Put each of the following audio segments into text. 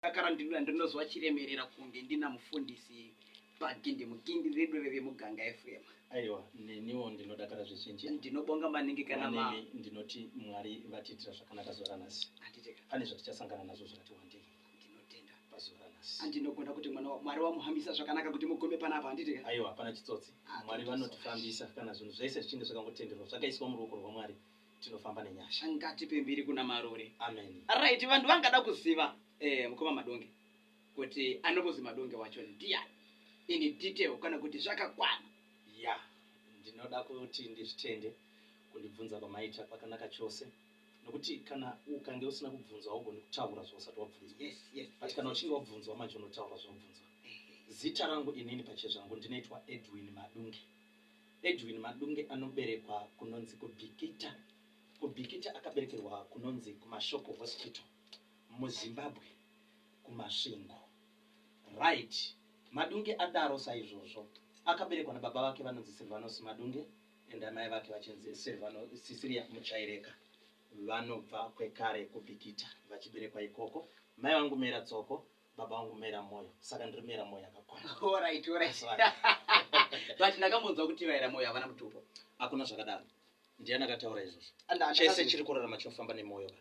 Ndakara ndinura ndinozwa chiremerera kunge ndina mufundisi pagindi mugindi redu reve muganga efurema aiwa neniwo ndinodakara zvizhinji ndinobonga maningi kana ma ndinoti mwari vatiitira zvakanaka zuva ranhasi pane zvatichasangana nazvo zvakati wandei ndinotenda pazuva ranhasi andinogona kuti mwana mwari wamuhambisa zvakanaka kuti mugume panapa handiti aiwa hapana chitsotsi ah, mwari vanotifambisa kana zvinhu zvese zvichinge zvakangotenderwa zvakaiswa muruoko rwamwari tinofamba nenyasha ngatipe mbiri kuna marure amen right vanhu vangada kuziva eh, mukoma madonge kuti anokuzi madonge wacho ndiani ini detail kana kuti zvakakwana ya ndinoda kuti ndizvitende kundibvunza kwamaita kwakanaka chose nokuti kana ukange usina kubvunzwa haugoni kutaura zvausati wabvunzwa yes yes but kana uchinge wabvunzwa manje unotaura zvaubvunzwa zita rangu inini pachezvangu ndinoitwa edwin madunge Edwin Madunge anoberekwa kunonzi kuBikita, kuBikita akaberekerwa kunonzi kuMashoko Hospital muZimbabwe kuMasvingo. Right Madunge adaro saizvozvo akaberekwa nababa vake vanonzi Silvanus Madunge and amai vake vachinzi Silvano, Cecilia Muchaireka vanobva kwekare kuBikita vachiberekwa ikoko. Mai vangu Mera Tsoko baba vangu mera moyo saka ndiri mera moyo akakwana Alright, alright. But ndakambonzwa kuti vaera moyo havana mutupo. hakuna zvakadaro ndiani akataura izvozvo And chese ndakazonzwa- chiri kurarama chinofamba nemwoyo ka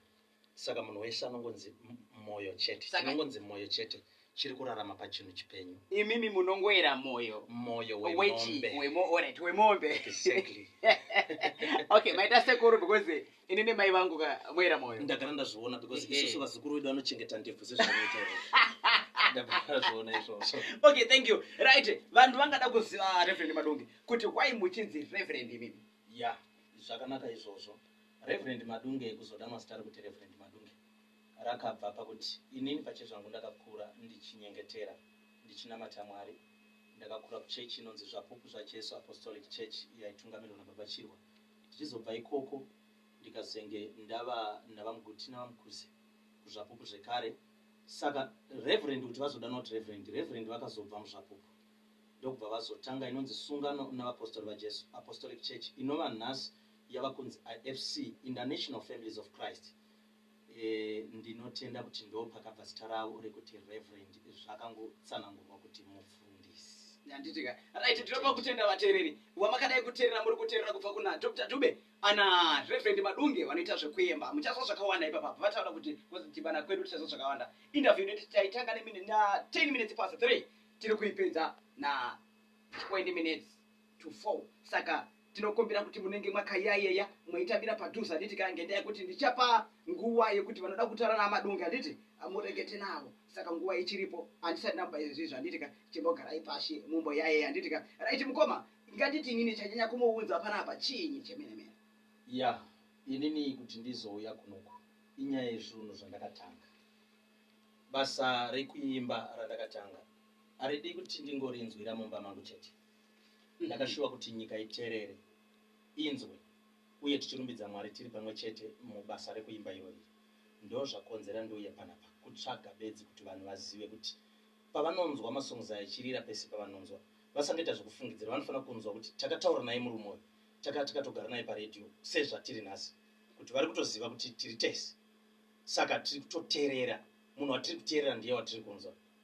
saka munhu wese anongonzi m- moyo chete Saka- chinongonzi moyo chete chiri kurarama pachinhu chipenyu Imimi munongoera moyo. moyo Wechi, wemombe wemo, alright, wemombe. exactly okay maita sekuru because ini nemai vangu ka moera moyo ndagara ndazviona because Ehe. isusu vazukuru vedu vanochengeta ndebvu sezvavanoita ivo. ndagara ndazviona izvozvo okay thank you right vanhu vangada kuziva reverend madungi kuti why muchinzi reverend imimi ya zvakanaka izvozvo reverend madunge kuzoda mazita rekuti reverend madunge rakabva pakuti inini pachezvangu ndakakura ndichinyengetera ndichinamata mwari ndakakura kuchechi inonzi zvapupu zvajesu apostolic church yaitungamirirwa nababa chirwa ndichizobva ikoko ndikazenge ndava nabamguti nabamkuzi kuZvapupu zvekare saka Reverend kuti vazodanwa kuti Reverend Reverend vakazobva muZvapupu ndokubva vazotanga inonzi Sungano naVapostori vaJesu Apostolic Church inova nhasi yava kunzi IFC International Families of Christ Ndinotenda kuti ndopakabva zita ravo rekuti Reverend zvakangotsanangurwa kuti mufundisi. Handiti ka. Right tinopa kutenda vatereri wamakadai kuterera muri kuterera kubva kuna Doctor Dube ana Reverend Madunge vanoita zvekuemba muchazwa zvakawanda ipapa vataura kuti kuzodhibana kwedu tichazwa zvakawanda interview yedu taitanga ne 10 minutes past 3 tiri kuipedza na 20 minutes to fall saka tinokumbira kuti munenge makayayeya moitambira padhuze handiti ka ngendaa yekuti ndichapa nguva yekuti vanoda kutaura namadunge handiti murekete navo saka nguva ichiripo handisati namba izvizvi handiti ka chimbogarai pashi mumboyayeya handiti ka right mukoma nganditi inini chanyanya kumuunza panapa chiinyi chemene mene ya yeah. inini kuti ndizouya kunoku inyaya yezvunhu zvandakatanga basa rekuimba randakatanga aridi kuti ndingorinzwira mumba mangu chete Ndakashuva kuti nyika iterere, inzwe, uye tichirumbidza Mwari tiri pamwe chete mubasa rekuimba iro iri. Ndozvakonzera ndiuye panapa, kutsvaga bedzi kuti vanhu vazive kuti pavanonzwa masongs aya echirira pese pavanonzwa, vasangoita zvekufungidzira, vanofanira kunzwa kuti takataura naye murume uyu, taka takatogara naye paRadio sezvatiri nhasi, kuti vari kutoziva kuti tiri tese, saka tiri kutoterera, munhu watiri kuterera ndiye watiri kunzwa.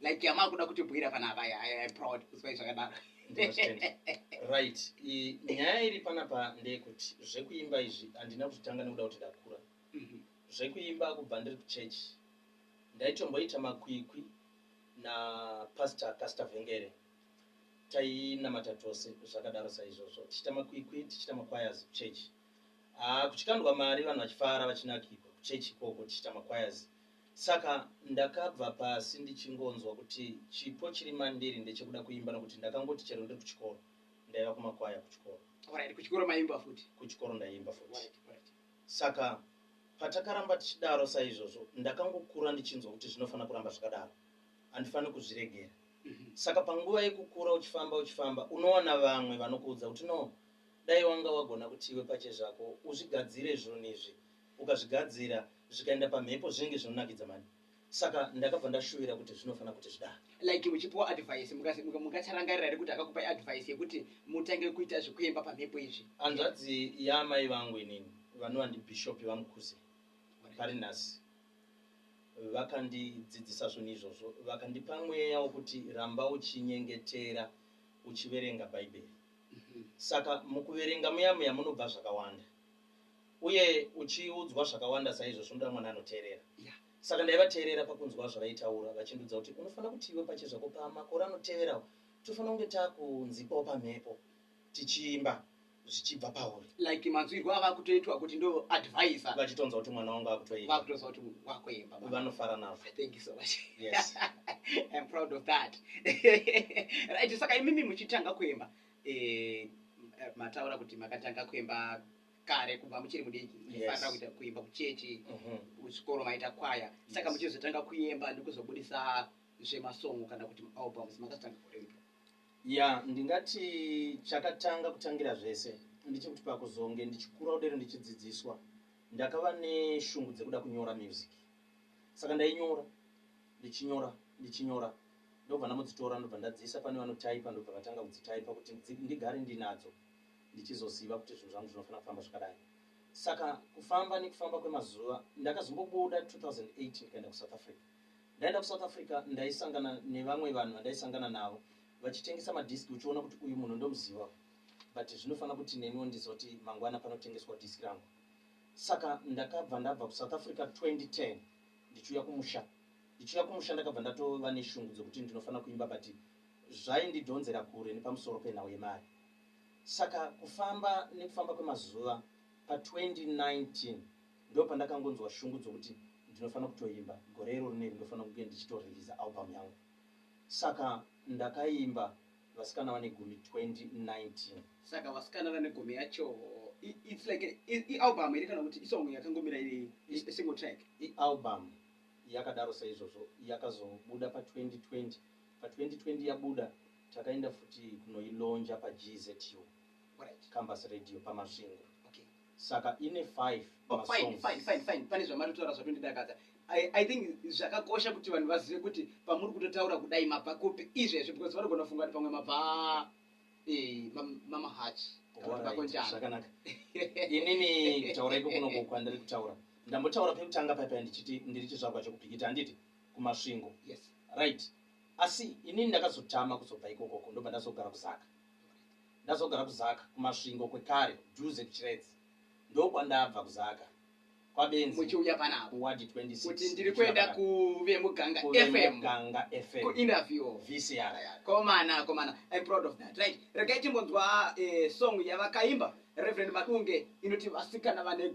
like yamakuda kutibhuira pana apa i proud kusvai zvakadaro right nyaya iri panapa ndeyekuti zvekuimba izvi handina kuzvitanga nekuda kuti ndakura mhm. zvekuimba kubva ndiri kuchurch ndaitomboita makwikwi napastor pastor vhengere tainamata tose zvakadaro saizvozvo tichiita makwikwi tichiita maquires kuchurch ah, kuchikandwa mari vanhu vachifara vachinakirwa kuchurch ikoko tichiita maquires Saka ndakabva pasi ndichingonzwa kuti chipo chiri mandiri ndechekuda kuimba nokuti ndakangoti chero ndiri kuchikoro ndaiva kumakwaya kuchikoro. Alright, kuchikoro maiimba futi? Kuchikoro ndaiimba futi. Alright, alright. Saka patakaramba tichidaro saizvozvo ndakangokura ndichinzwa kuti zvinofanira kuramba zvakadaro. Handifaniri kuzviregera. Mhm. Saka panguva yekukura uchifamba uchifamba unowana vamwe vanokuudza kuti no dai wanga wagona kuti iwe pache zvako uzvigadzire zvinhu izvi ukazvigadzira zvikaenda pamhepo zvinenge zvinonakidza mhani saka ndakabva ndashuvira kuti zvinofanira kuti zvidaro. Like muchipiwa advice mungacharangarira here kuti akakupai advice yekuti mutange kuita zvekuemba pamhepo izvi? Hanzvadzi yaamai vangu inini vanova ndibhishopi vaMukhuze pari nhasi vakandidzidzisa zvinhu izvozvo vakandipa mweya wokuti ramba uchinyengetera uchiverenga bhaibheri mhm. saka mukuverenga muya muya munobva zvakawanda Uye uchiudzwa zvakawanda saizvozvo, unoda mwana anoteerera. Yeah. Saka ndaivateerera pakunzwa zvavaitaura, vachindiudza kuti unofanira kuti iwe pachezvako pamakore anoteverawo tofanira kunge takunzipawo pamhepo tichiimba zvichibva pauri. Like manzwirwo ava kutoitwa kuti ndo advisor. Vachitonzwa kuti mwana wangu akutoimba. Vakutonzwa kuti wakuimba. Vanofara nazvo. Thank you so much. Yes. I'm proud of that. right, saka imimi muchitanga kuimba. Eh, mataura kuti makatanga kuimba kare kubva muchiri mudiki maifanira kuita kuimba kuchechi mhm. kuchikoro maita kwaya saka muchizotanga kuimba ndikuzobudisa zvemasongo kana kuti maalbums makazotanga kuripi ya ndingati chakatanga kutangira zvese ndichekuti pakuzonge ndichikura kudero ndichidzidziswa ndakava neshungu dzekuda kunyora music saka ndainyora ndichinyora ndichinyora ndobva ndamudzitora ndobva ndadziisa pane vanotaipa ndobva vatanga kudzitaipa kuti ndigare ndinadzo ndichizoziva kuti zvinhu zvangu zvinofanira kufamba zvakadai. Saka kufamba nekufamba kwemazuva ndakazombobuda 2008 ndikaenda kuSouth Africa. Ndaenda kuSouth Africa ndaisangana nevamwe vanhu vandaisangana navo vachitengesa madhiski uchiona kuti uyu munhu ndomuziva but zvinofanira kuti neniwo ndizoti mangwana panotengeswa dhiski rangu. Saka ndakabva ndabva kuSouth Africa 2010 ndichiuya kumusha. Ndichiuya kumusha ndakabva ndatova neshungu dzokuti ndinofanira kuimba but zvaindidhonzera kure nepamusoro penhau yemari. Saka kufamba nekufamba kwemazuva pa 2019 ndopandakangonzwa shungu dzokuti ndinofanira kutoimba gore iroro rineri ndofanira kunge ndichito releaser album yangu. Saka ndakaimba Vasikana vane gumi 2019. Saka Vasikana vane gumi yacho i, it's like a, i, i album here kana kuti isong yakangomira iri i, a single track? I album yakadaro saizvozvo yakazobuda pa 2020. Pa 2020 yabuda Takaenda futi kunoilonja paGZU, Campus Radio, paMasvingo. Saka ine five masongs. Fine, fine, fine. Pane zvamari kutaura zvatondidakadza. I, I think zvakakosha kuti vanhu vazive kuti pamuri kutotaura kudai mabva kupi izvezvi because vanogona kufunga kuti pamwe mabva eh, mam- mamahachi kana kuti Alright, makonjana. zvakanaka inini kutaura iko kunongo kwandiri kutaura ndambotaura pekutanga paipa ndichiti ndiri chizvarwa chekupikita handiti kumasvingo Yes. right Asi inini ndakazotama kuzobva ikoko uko ndobva ndazogara kuZaka. Ndazogara kuZaka kuMasvingo kwekare dhuze kuChiredzi. Ndokwandabva kuZaka kwaBenzi Muchiuya pano apa kuWard 26. kuti ndiri ndichiuya kuenda pakati. kuVemuganga Kuve FM. Muganga FM. Kuinterview. VCR. Komana, komana. I'm proud of that. Right. Regai timbonzwa eh, song yavakaimba Reverend Madunge inoti vasikana vane go.